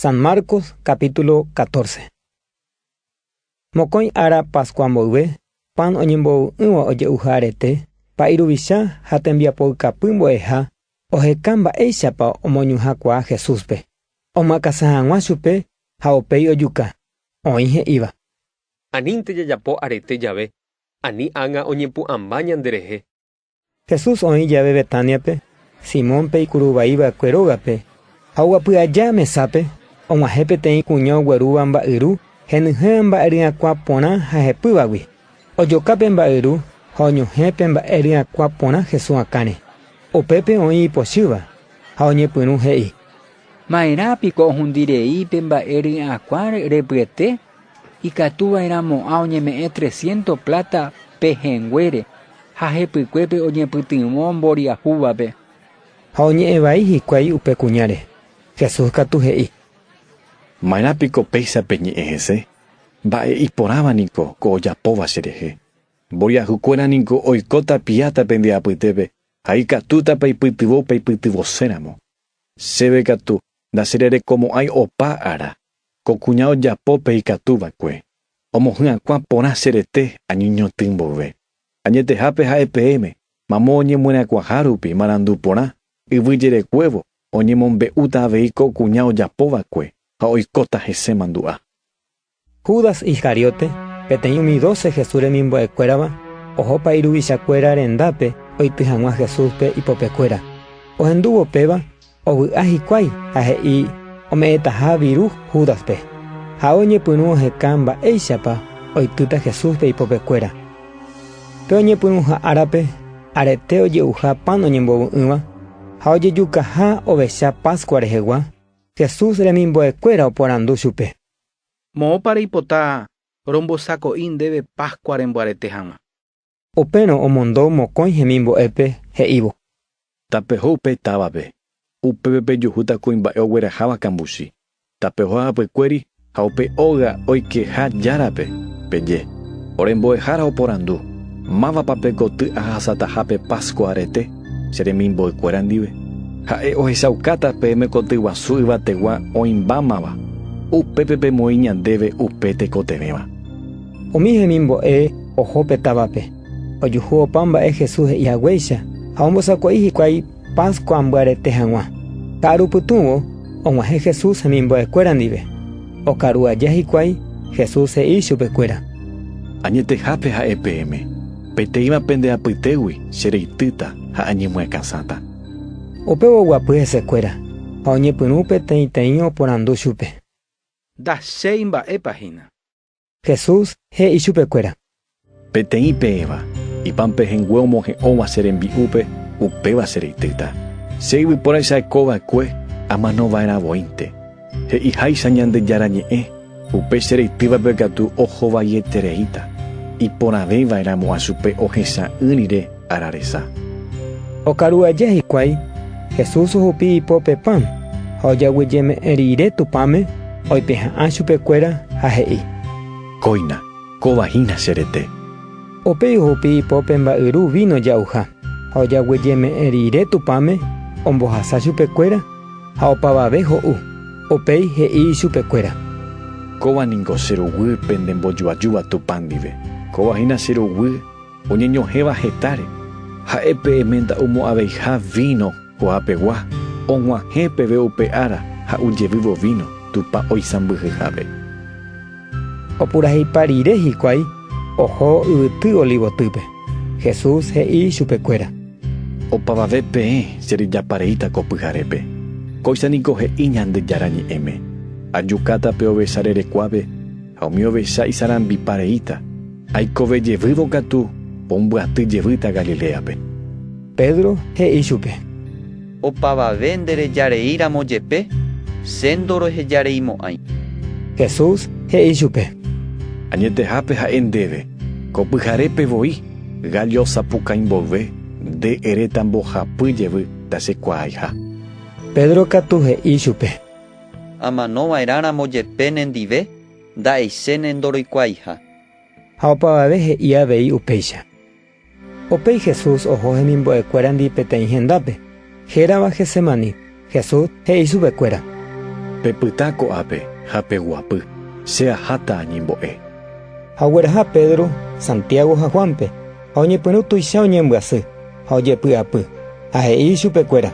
San Marcos capítulo 14. Mokõi ára Pascua mboyve, pan oñembovy'ỹva oje'uha arete, pa'i ruvicha ha tembiapoykapy mbo'eha oheka mba'éichapa omoñuhãkuaa Jesúspe, omyakasa hag̃ua chupe ha upéi ojuka, oĩ he'íva. Anínte jajapo arete jave, ani ág̃a oñepu'ãmba ñanderehe. Jesús oĩ jave Betániape, Simónpe ikuru vai va'ekue rógape, ha oguapy aja mesápe, og̃uahẽ peteĩ kuña oguerúva mba'yru henyhẽva mba'e ryakuã porã ha hepývagui. Ojoka pe mba'yru ha oñohẽ pe mba'e ryakuã porã Jesús akãre. Upépe oĩ ipochýva, ha oñepyrũ he'i. Maerã piko ohundi rei pe mba'e ryakuã repyete? Ikatu va'erã mo'ã oñeme'ẽ tresiénto pláta pe hẽnguére ha hepykuépe oñepytyvõ mboriahúvape. Ha oñe'ẽ vai hikuái upe kuñáre. Jesús katu he'i. Maerã piko péicha peñe'ẽ hese? Mba'e iporãva niko ko ojapóva cherehe. Mboriahukuéra niko oikóta piáta pende apytépe ha ikatúta peipytyvõ peipytyvoséramo. Chéve katu ndachererekomo'ãi opa ára. Ko kuña ojapo pe ikatu va'ekue, omohy'akuã porã che rete añoñotỹ mboyve. Añetehápe ha'e peẽme, mamo oñemyerakuaha rupi marandu porã, yvy jerekuévo oñemombe'úta avei ko kuña ojapo va'ekue ha oikóta hese mandu'a. Judas Iscariote, peteĩ umi doce Jesús remimbo'ekuérava, ohopa iruvichakuéra rendápe oity hag̃ua Jesúspe ipopekuéra. Ohendúvo péva, Ovy'a hikuái ha he'i ome'ẽtaha viru Júdaspe, ha oñepyrũ oheka mba'éichapa oitýta Jesúspe ipopekuéra. Pe oñepyrũha árape, arete oje'uha pan oñembovy'ỹva ha ojejukaha ovecha Pascua rehegua, Jesús remimbo'ekuéra oporandu chupe. Moõpa reipota rombosako'i ndéve Pascua rembyarete hag̃ua? Upérõ omondo mokõi hemimbo'épe, he'ívo. Tapeho upe távape. Upépe pejuhúta kuimba'e ogueraháva kambuchi. Tapeho hapykuéri ha upe óga oikeha járape, peje. Ore mbo'ehára oporandu, Mávapa pe koty ahasataha pe Pascua arete che remimboykuéra ndive? Ha'e ohechaukáta peẽme koty guasu yvategua oĩmbámava, upépe pemoĩ ñandéve upe tekotevẽva. Umi hemimbo'e oho pe távape, ojuhu opa mba'e Jesús he'i haguéicha ha ombosako'i hikuái Pascua mbyarete hag̃ua. Ka'aru pytũvo og̃uahẽ Jesús hemimbo'ekuéra ndive. Okaru aja hikuái, Jesús he'i chupekuéra. Añetehápe ha'e peẽme, peteĩva pende apytégui che reitýta ha añemyakãsáta. Upévo oguapy hesekuéra ha oñepyrũ peteĩteĩ oporandu chupe. Ndachéi mba'épa hína. Jesús he'i chupekuéra. Peteĩ peẽva, ipan pehẽngue omohe'õva che rembi'úpe, upéva che reitýta. Che yvyporaicha'eko va'ekue amano va'erã voínte. He'iháicha Ñandejára Ñe'ẽ, upe che reitývape katu oho vaietereíta, iporãvéi va'erãmo'ã chupe ohesa'ỹ rire. ára resa. Okaru aja hikuái, Jesús ohupi ipo pe pan, ha ojagueyeme'ẽ riire Tupãme, oipeha'ã chupe kuéra ha he'i. Kóina, kóva hína che rete. Upéi ohupi ipo pe mba'yru víno ja'uha, ha ojagueyeme'ẽ riire Tupãme, ombohasa chupe kuéra, ha opavave ho'u. Upéi he'i ichupe kuéra. Kóva ningo che roguy pende mbojuajúva Tupã ndive. Kóva hína che roguy. Oñeñohẽva hetáre, ha'e pe emenda omo'ãveiha víno kuaapegua, og̃uahẽ peve upe ára ha ujevývo víno Tupã oisãmbyhyhápe. Opurahéipa rire hikuái oho yvyty Olivotýpe, Jesús he'i chupekuéra. Opavave peẽ che rejapa reíta ko pyharépe. Kóicha niko he'i Ñandejára Ñe'ẽme, Ajukáta pe ovecha rerekuápe, ha umi ovecha isarambipa reíta. Aikove jevývo katu pombyaty jevýta Galiléape. Pedro he'i chupe. Opavave nderejareíramo jepe, che ndorohejareimo'ãi. Jesús he'i chupe. Añetehápe ha'e ndéve, ko pyharépe voi gállo sapukãi mboyve nde eréta mbohapy jevy ndachekuaaiha. Pedro katu he'i chupe. Amano va'erã ramo jepe nendive. Nda'eiséne ndoroikuaaiha. Ha opavave he'i avei upéicha. Upéi Jesús oho hemimbo'ekuérandi peteĩ hendápe, hérava Getsemaní. Jesús he'i chupekuéra. Pepyta ko'ápe ha peguapy, che aháta añembo'e. Ha ogueraha Pedro, Santiago ha Juánpe, ha oñepyrũ tuicha oñembyasy. Ha ojepy'apy, ha he'i ichupe kuéra.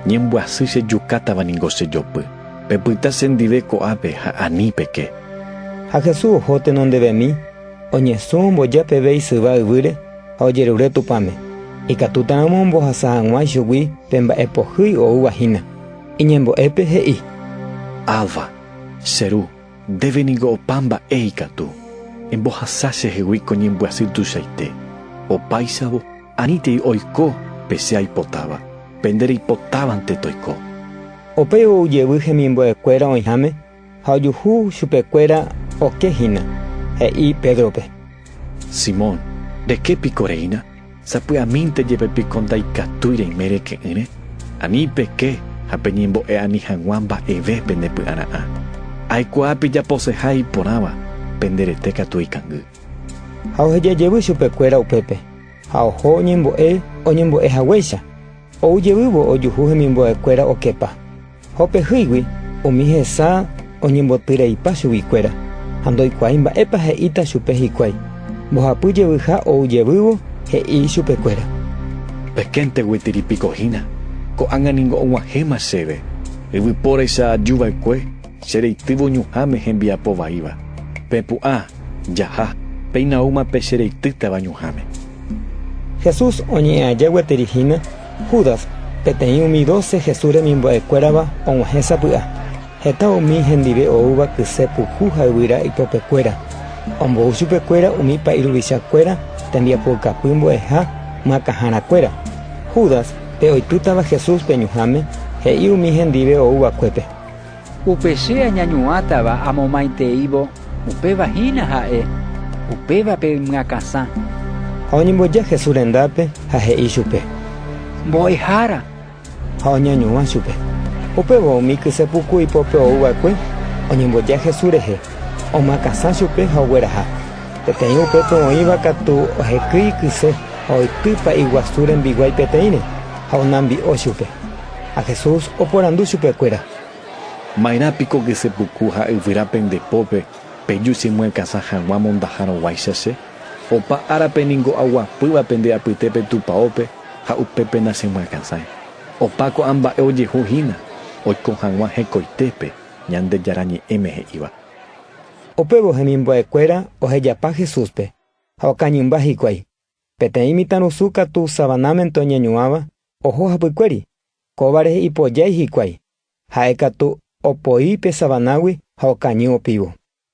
Ñembyasy che jukátava ningo che jopy. Pepyta che ndive ko'ápe ha ani peke. Ha Jesús oho tenondevemi, oñesũ omboja peve isyva yvýre ha ojerure Tupãme. Ikatútaramo ombohasa hag̃ua ichugui pe mba'e pohýi oúva hína. Iñembo'épe he'i. Abba, che Ru. Ndéve ningo opa mba'e ikatu embohasa chehegui ko ñembyasy tuichaite. Opáichavo, anítei oiko pe che aipotáva, pende reipotávante toiko. Upéi ou jevy hemimbo'ekuéra oĩháme ha ojuhu chupekuéra oke hína, he'i Pédrope. Simón, reke piko reína? Sapy'amínte jepe piko ndaikatúi reime reke'ỹre? Ani peke ha peñembo'e'ani hag̃ua mba'eve pendepy'ara'ã. Aikuaa pejaposeha iporãva, pende rete katu eikangy. Ha oheja jevy chupekuéra upépe, ha oho oñembo'e oñembo'e haguéicha, ou jevývo ojuhu hemimbo'ekuéra okepa. Jopehýigui umi hesa oñemboty reipa chuguikuéra ha ndoikuaái mba'épa he'íta chupe hikuái. Mbohapy jevyha ou jevývo, he'i chupekuéra. Pekénte gueteri piko hína, ko'ág̃a ningo og̃uahẽma chéve, yvypóraicha aju va'ekue che reitývo ñuhãme hembiapo vaíva. Pepu'ã, jaha, péina oúma pe che reitýtava ñuhãme. Jesús oñe'ẽ aja gueteri hína Judas, peteĩ umi doce Jesús remimbo'ekuérava og̃uahẽ sapy'a. Heta umi hendive oúva kyse puku ha yvyra ipopekuéra. Ombou chupekuéra umi pa'i ruvichakuéra tembiapoukapy mbo'eha makãharakuéra. Judas, pe oipytava Jesús pe ñuhãme, he'i umi hendive ouvakuépe, Upe che añañuãtava amomaiteívo, upéva hína ha'e, upévape ymyakãsã. Ha oñemboja Jesús rendápe ha he'i chupe. Mbo'ehára. Ha oñañuã chupe. Upéva umi kyse puku ipópe ou va'ekue oñemboja Jesús rehe, omakãsã chupe ha ogueraha. Peteĩ upépe oĩva katu ohekýi kyse ha oity pa'i guasu rembiguái peteĩre, ha onambi'o chupe. Ha Jesús oporandu chupekuéra: Maerã piko kesepuku ha yvyra pende pópe peju che myakãsa hag̃ua mondaharõguáicha che? Opa árape ningo aguapýva pende apyte pe tupaópe ha upépe nachemyakãsãi. Opa ko'ã mba'e ojehu hína oiko hag̃ua hekoitépe Ñandejára Ñe'ẽme he'íva. Upévo hemimbo'ekuéra ohejapa Jesúspe, ha okañymba hikuái. Peteĩ mitãrusu katu savanámente oñeñuãva oho hapykuéri, kóvare ipojái hikuái, ha'e katu opoi pe savanágui ha okañy opívo.